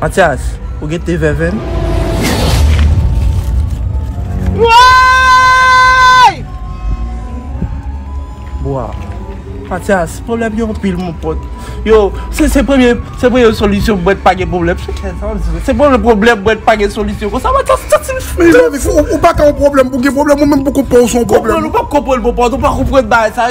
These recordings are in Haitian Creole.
Matyas, ou gen te vèvenn? Woyy! Bwa. Matyas, pwoblèm yo anpil mon pòt. Yo, se se premye, se premye solisyon mwen pa gen pwoblèm. Se kè sa ou di. Se premye pwoblèm mwen pa gen solisyon. Konsa Matyas ou santi l fou. Mezanmi, ou, ou pa ka yon pwoblèm pou gen pwoblèm, ou menm pou konprann ou se yon pwoblèm. Konprann ou pap konprann mon pòt, ou pa konprann bagay sa.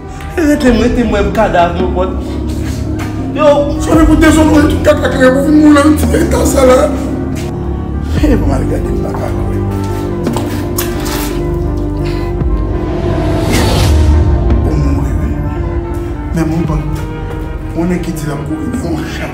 Rete mwen te mwen kadav nou bòt Yo Sòre pou dezonore tout kaka kre pou vin moule nan ti feyton sa la Hee mwen al gade m paka kwè Ou mouri wi Menm ou bòt Ou nèg ki di lap kouri ni yon chat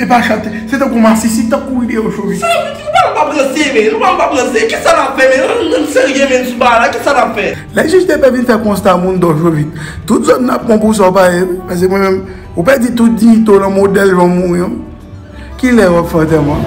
E pa chante. Se tankou masisi, tankou wi de oshori. Sa vle di nou pa pran prese men. Nou pa pran prese. Ki sa nap fè men. Ann serye men sou bagay la. Ki sa nap fè. Lè jij de pè vin fè konsta moun do oshori. Tout zòn nan ap pran pou sa w pa ye wi. Pase mwen menm. Ou pèdi tout diyite w lan modèl jan w mouri an. Ki lè wap fè antèman.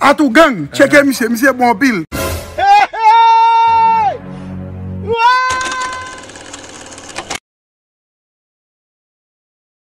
Atougang tcheke misye misye bon anpil.